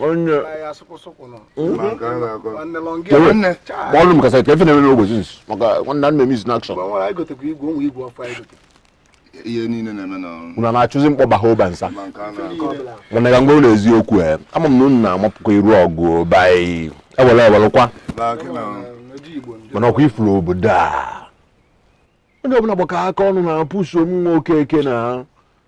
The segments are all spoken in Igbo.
onye kpọọlụ m kasị ka ife na-eme n'ogbochi nsi maka nwanna nna m miss in action ihe niile na-eme na unu na-achụzi mkpọba ha ụba nsa mana ka ngwa ụlọ eziokwu e ama m na unu na-amapụkwa iru ọgụ be anyị ewere ewerekwa mana ọkwa ị furu obodo a onye ọbụla gbakọ aka ọnụ na-apush m nwa okeke na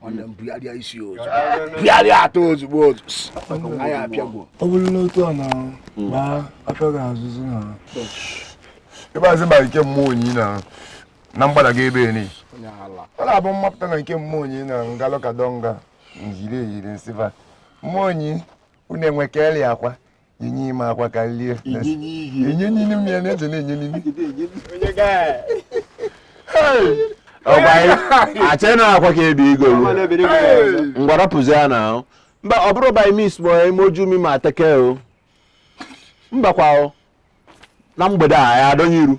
nwanne m bugharịa isi ozu bugharịa atọ ozugbo ozu anyị apịagwo ọ bụrụ n'otu a na gbaa afọ ga-azụzụ na ebe azị ma nke mmụọ onyi na na mgbada gị ebe ni ọ na-abụ mmapụta na nke mmụọ onyi na ngalụ ka dọnga njiri eyiri nsịba mmụọ onyi unu enwe ka eli akwa enye ime akwa ka lie enye nini m ya na-eze na-enye nini achị na akwa ka ebi igo ngwarapụzi ya na ahụ mba ọ bụrụ by miss ma ime oju mi ma ateke o mbakwa o na mgbede a ya adọnye iru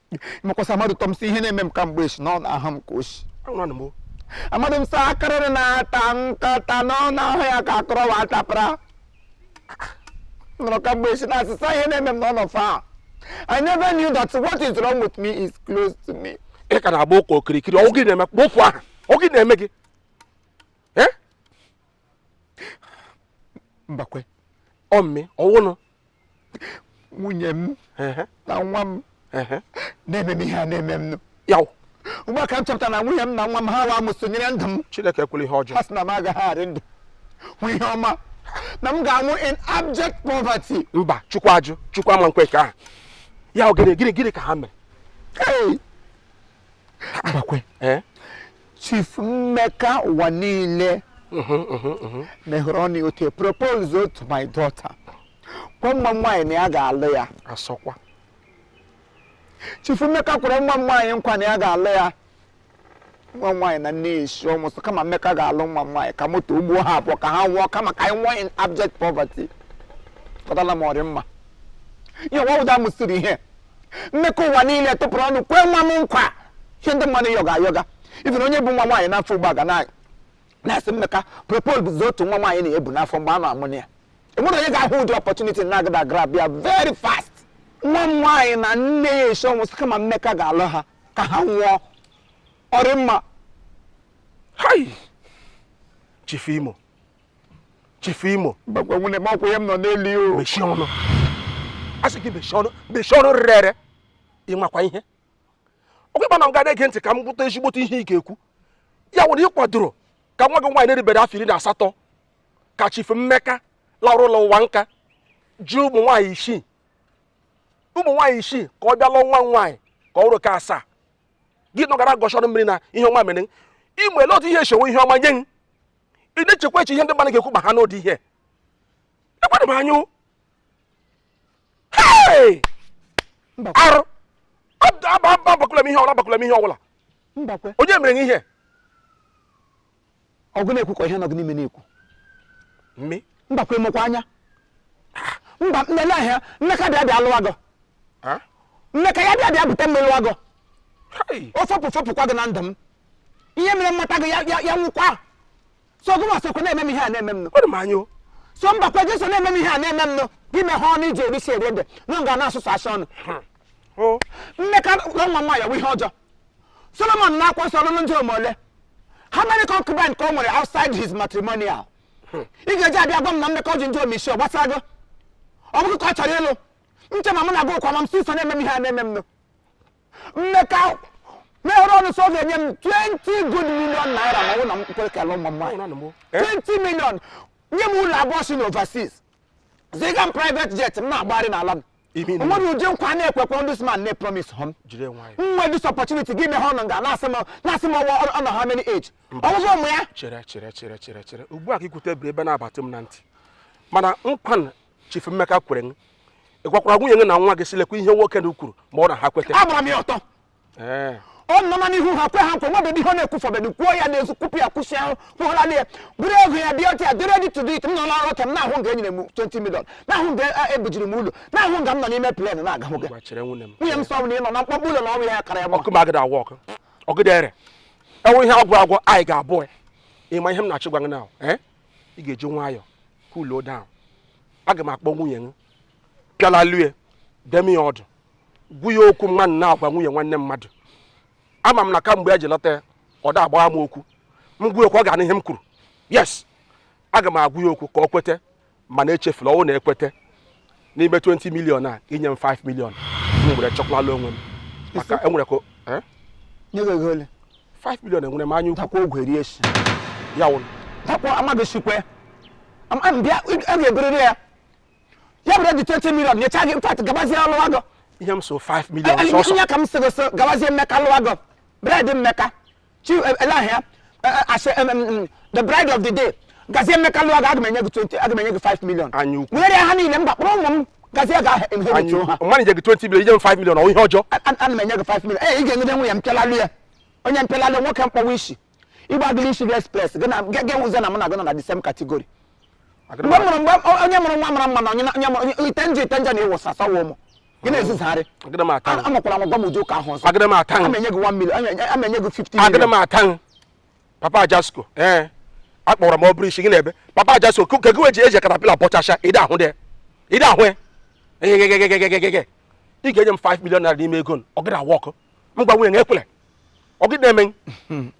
ịmakwasa amadụ tọ m sị ihe na-eme m ka mgbe echi na ọ na-aha m ka ochi amadụ m sị akarịrị na-ata nkịta nọ n'ahụ ya ka akọrọ wa atapara nọrọ ka mgbe echi na asịsa ihe na-eme m na ọ nọ far I never knew that what is wrong with me is close to me. ị ka na-agba ụka okirikiri ọ gị na-eme kpọfụ aha ọ gị na-eme gị mbakwe ọmme ọ wụnụ nwunye m na nwa m na-eme m ihe a na-eme m ya wụ ugbu a ka m chọpụtara na nwunye m na nwa m ha wa m sonyere ndụ m Chineke ekwela ihe ọjọọ ha sị na m agaghị arị ndụ hụ ihe ọma na m ga-anwụ in abject poverty mba chukwu ajụ chukwu ama ekwe nke ahụ ya gịrị gịrị gịrị ka ha mere Mbakwe. Eh? Chief Mmeka ụwa niile mehere ọnụ ya propose to my daughter gwa nwa m nwaanyị na ya ga-alụ ya asịkwa Chief Mmeka kwere nwa m nwaanyị nkwa na ya ga-alụ ya nwa m nwaanyị na nne ya esi ọnwụ sị kama Mmeka ga-alụ nwa m nwaanyị ka moto gbuo ha abụọ ka ha nwụọ kama ka anyị nwụọ in abject poverty kọtala m ọ rị mma ihe nwa ụda mụsiri ihe Mmeka ụwa niile tụpụrụ ọnụ kwee nwa m nkwa ihe ndị mmadụ yọga ayọga even onye bu nwa nwaanyị n'afọ ugbu a ga na-asị Mmeka propose to nwa nwaanyị na-ebu n'afọ mgbe a na-amụ ya e nwere onye ga-ahụ ụdị opportunity na-agadị agrab ya very fast nwa m nwaanyị na nne ya esi ọnwụ sị kama Mmeka ga-alụ ha ka ha nwụọ ọ rị mma Chief Imo chifu imo mbakwa nwunye m okwu ya m nọ n'elu ya o mechie ọnụ a sị gị mechie ọnụ mechie ọnụ rere ere ị makwa ihe ọ kwa ị ma na m ga-ege ntị ka m gwụta ezigbote ihe ị ga-ekwu ya wụ na ị kwadoro ka nwa gị nwaanyị na-erubere afọ iri na asatọ ka chifu mmeka larụ ụlọ ụwa nka ji ụmụ nwaanyị isii ụmụ nwaanyị isii ka ọ bịa lụọ nwa m nwaanyị ka ọ bụrụ ka asaa gị nọgara gọchọrọ mmiri na ihe ọma mere m. ị ma ele otu ihe echewe ihe ọma nye m ị na-echekwa eche ihe ndị mmadụ ga-ekwu ma ha nụ ụdị ihe ekwere m anyụ arụ agwakwala m ihe ọbụla agwakwala m ihe ọbụla onye mere ihe ọ gị na-ekwu ka ihe nọ gị n'ime na-ekwu mme mbakwa emekwa anya mba nne ahịa mmeka bịa bịa lụwa gị mmeka ya bịa bịa bute mmiri lụwa gị o fopụ fopụkwa gị na ndụ m ihe mere m mata gị ya wụkwa so gị ma sokwa na-eme m ihe a na-eme m nụ so mbakwa gị so na-eme m ihe a na-eme m nụ gị mehe ọnụ i ji eri ji eri ede na nga na-asụsụ asụ ọnụ hmm. mmeka nwa nwaanyị bụ ihe ọjọọ solomon n'akwụkwọ nsọ ọ lụrụ ndịom ole how many concubines ka o nwere outside his matrimonial home ị ga-eji abịa gwa m na mmeka ji ndịom ishii ọ gbasara gị ọ bụ gị ka ọ chọrọ ịlụ nche ma mụ na gị ụkwa ma m si so na-eme m ihe a na-eme m nụ mmeka mehere ọnụ sị ọ ga-enye m 20 good million naira ma ọ bụ na m kwere ka ọ lụọ nwa m nwaanyị Ọnụ m. 20 million nye m ụlọ abụọ si n'overseas ziga m private jet m na-agbagharị n'ala m Imi na- o nwere ụdị nkwa na-ekwekwa this man na-epromis hụ m Jide nwayọ. nwe this opportunity gị mehe ọnụ nga na-asị m na-asị m ọwa ọnụ how many age ọgwụgwọ ụmụ ya chere chere chere chere chere ugbu a ka i kwute biri ebe na-abatụ m na ntị mana nkwa na Chief Mmeka kwere m ị gwakwara nwunye gị na nwa gị sị lekwa ihe nwoke na kwuru ma ọ na ha kweta agbara m ya ọtọ eh. ọ nọ na n'ihu ha kwe ha nkwa nwebe ihe ọ na-ekwufọbedu kwuo ya n'ezu kwupụ ya kwụsị ahụ kwụgharala ya bụrụ ego ya dị ọcha ya dị ready to do it m nọ na nrọ ka m na-ahụ nga enyere m 20 million na-ahụ nga eh, ebujiri m ụlọ na-ahụ nga m nọ n'ime plen na-aga nwoke nwunye m sị ọ bụ na ị nọ na mkpọkpọ ụlọ na ọrụ ya kara ya ọkụ ma agada awọ ọkụ ọgịdere enwe ihe agwụ agwụ anyị ga-abụ ya ị ma ihe m na-achọ ịgwa gị na eh? ị ga-eji nwayọọ cool down aga m akpọ nwunye m pịala lue dụọ ya ọdụ gwa ya okwu mmadụ na-agwa nwunye nwanne mmadụ ama m na kamgbe ya ji lụta ya ọ da agbagha m okwu m gwa ya okwu ọ ga-anụ ihe m kwuru yes aga m agwa ya okwu ka ọ kweta mana echefula ọ wụ na e kweta n'ime 20 million a i nye m 5 million m were chọkwala onwe m maka enwere ka eh? nye gị ego ole 5 million enwere m anya ukwu takwa ogwe rie shi ya wụrụ takwa amaghị shikwe mbịa a ga-eberere ya ya bụrụ the 20 million nyecha gị in fact gabazie ọ lụwa gị ihe m so 5 million sọsọ ihe ka m sịrị so gabazie mmeka lụwa gị bred mmeka chief eh, ele ahịa eh, eh, asị em, em, em, the bride of the day gazie Mmeka lụọ gị aga m enye gị 20 aga m enye gị 5 million Anya ukwu. were ha niile mba kpọrọ ụmụ m gazie ga inherit ha mmadụ nye gị 20 million inye m 5 million ọ ihe ọjọọ A- a- ana m enye gị 5 million ee ị ga-enyere nwunye m mpịalalụ ya onye mpịalalụ nwoke mkpọwa isi ịgba gị isi express gị na gị nwụzie na mụ na gị nọ na the same category mgbe m mụrụ mgbe o- onye mụrụ nwa mara mma na onye na- onye mụrụ onye- ite njọ ite njọ na ịwụsa sawa ụmụ gị na-ezuzarị agịrị m ata A- amakwara m gwa m ụdị ụka ahụ ọzọ agịrị m ata ama enye gị 1 million ama- ama enye gị 50 million agịrị m ata papa ajasko ee akpọrọ m ọ bụrụ isi gị na-ebe papa ajasko ke gị ji eji katapila bọchacha ịdị ahụ dị ịdị ahụ ya egegegegegegege ị ga-enye m 5 million naira n'ime ego m, ọ gịrị a-work m gwa nwunye na ekwele ọ gịrị eme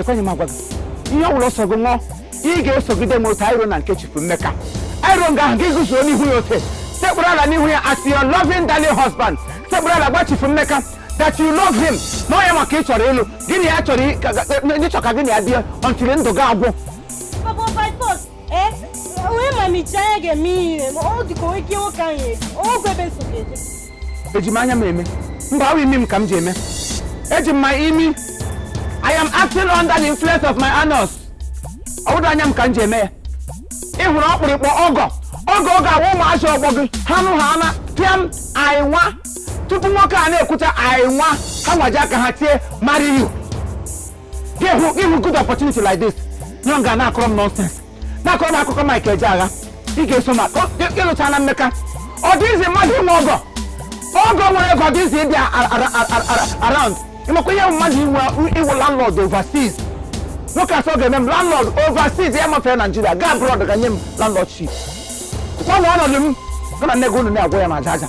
ekweghị m agwa gị ihe ọ bụla sọ gị ṅụọ ị ga-esogide m otu a anyị ruo na nke chifu mmeka anyị ruo nga ahụ gị guzo n'ihu ya ote sekpụrụ ala n'ihu ya as your loving darling husband sekpụrụ ala gwa chifu mmeka that you love him na ọ ya nwa ka ị chọrọ ịlụ gị na ya chọrọ ị- ka- ka- na ị chọ ka gị na ya bie until ndụ gị agwụ Papa by force, eh? Onye ma mechaa ya ga-eme ihe, ọ dịka onye ike nwoke ahụ ya, ọ gwebe nsogbu eje. eji m anya m eme mba ọ wụ imi m ka m ji eme eji m my imi i am acting under the influence of my anus ọ wụdị anya m ka m ji eme ya ị hụrụ ọkpụrịkpọ ọgọ ọgọ ọ ga-awụ ụmụazị ọgbọ gị ha nụ ha ana pịam I will tupu nwoke a na-ekwucha I will ha nwa eji aka ha tie marry you ị hụ good opportunity like this nọ nga na-akọrọ m nonsense na-akọrọ m akụkọ Mike Ejeagha ị ga-eso ma ịlụcha na mmeka ọ dị easy mmadụ inwe ọgọ ọgọ nwere ego ọ dị easy ịbịa around ịmakwa ihe mmadụ inwe ịwụ landlord overseas nwoke a sị ọ ga-eme m landlord overseas ya mafere Nigeria gaa abroad ga nye m landlord ship kwanụ ọnọdụ m gị na nne gị unu na-agwa ya ma aja aja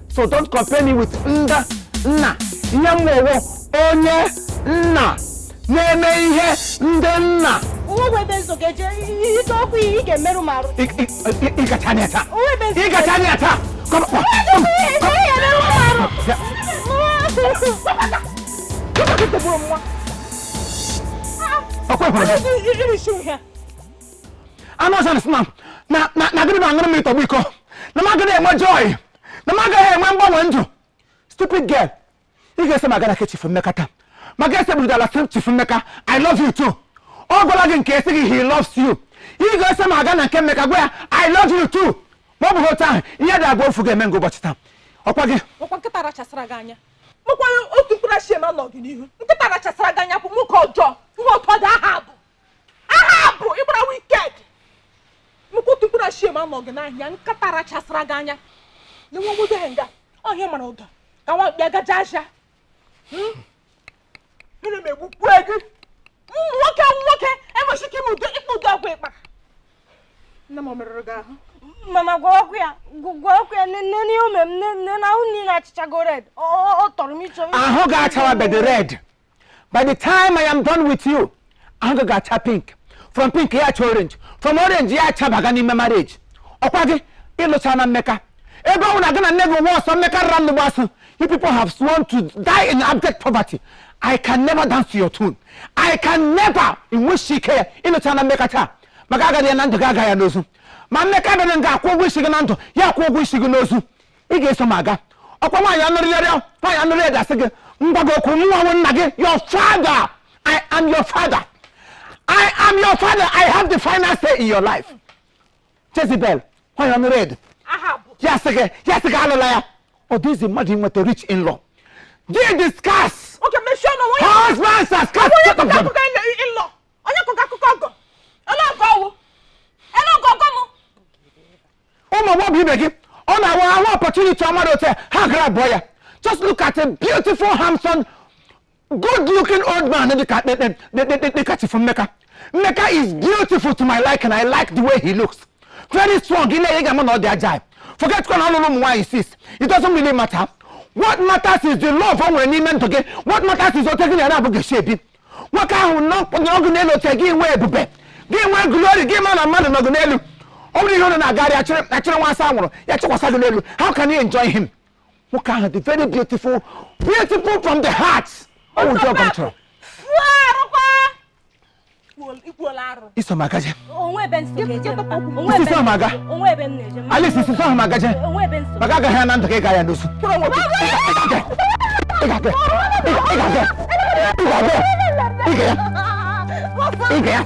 so don't compare me with ndị nna ihe m wụ wụ onye nna na-eme ihe ndị nna ịgacha anya taa ịgacha anya taa Come on. Come on. Ọkwa ịhụrụ anụ ọcha na na na m agịrị aṅụrụ mmiri tọgbọ iko na m agịrị enwe joy na m agaghị enwe mgbanwe ndụ stupid girl ị ga-eso m aga na nke chifu mmeka taa ma ga sekpụrụ ala sị chifu mmeka i love you too ọ gwala gị nke ya sị gị he loves you ị ga-eso m aga na nke mmeka gwa ya i love you too ma ọ bụghị otu ahụ ihe dị abụọ ofu ga-eme nke ụbọchị taa ọkwa gị ọkwa nkịta rachasara gị anya mụkwara otu mkpụrụ achị eme nọ gị n'ihu nkịta rachasara gị anya bụ nwoke ọjọọ nwa ọtọ dị aha abụ aha bụ ịgbara wicked mkpụtụ mkpụrụ achie ma anọghị n'ahịa nkịta rachasịra gị anya na nwa nwoke ahụ nga ọhịa mara ụda ka nwa mkpi agaje ahịa hmm? mmiri magbukwa gị ụmụ nwoke nwoke enweghị ike ime ụdị ịkpa ụdị ọgwụ ịkpa nne m merụrụ gị ahụ mama gwakwa ya gwakwa ya nene ihe o me m nene na ahụ niile achachago red ọ tọrọ m ịchọ ahụ gị achawabedị red by the time i am done with you ahụ gị ga-acha pink from pink ya acha orange from orange ya achabaga n'ime marriage ọkwa gị ị lụchana mmeka ebe ọ na gị na nne gị nwa ọsọ mmeka rara nnu gbụọ asụ you people have sworn to die in abject poverty i can never dance to your tune i can never i nweshi ike ya ị lụchana mmeka taa maka agaghị ya na ndụ gị aga ya n'ozu ma mmeka bịara nga akwụ ụgwọ isi gị na ndụ ya akwụ ụgwọ isi gị n'ozu ị ga-eso m aga ọkwa nwaanyị ọnụ red ọ nwaanyị ọnụ red a sị gị ngwa gị okwu mụwa wụ nna gị your father i am your father i am your father i have the final say in your life jezebel nwaanyị ọnụ red ya sị gị ya sị gị alụla ya ọ dị easy mmadụ inweta rich in law di dị scarce husbands are scarce onye kụkọ akụkọ ọgọ ele ọgọ ọwụ ele ọgọ ọgọ m ụmụ agbọghọ ibe gị ọ na-awụ ha hụ opportunity ọma otu a ha agrabụọ ya just look at a beautiful handsome good looking old man dịka dịka chifu mmeka mmeka is beautiful to my liking i like the way he looks very strong i lee ya ị ga-ama na ọ dị agile forget kwa na ọ lụrụ ụmụ nwaanyị six it doesn't really matter what matters is the love o nwere n'ime ndụ gị what matters is otu gị na ya naabọ ga-esi ebi nwoke ahụ nọ gị n'elu oche gị nwee ebube gị nwee glory gị ma na mmadụ nọ gị n'elu ọ bụrụ ihe ọ na-agagharị achịrị nwa asa nwụrụ ya chịkwasa gị n'elu how can you enjoy him nwoke ahụ dị very beautiful beautiful from the heart ọ wụ ụdị ọgọ m chọrọ i so m agaje Alice i so m agaje maka agaghị ya na ndụ gị ga ya n'ozu Ị ga ya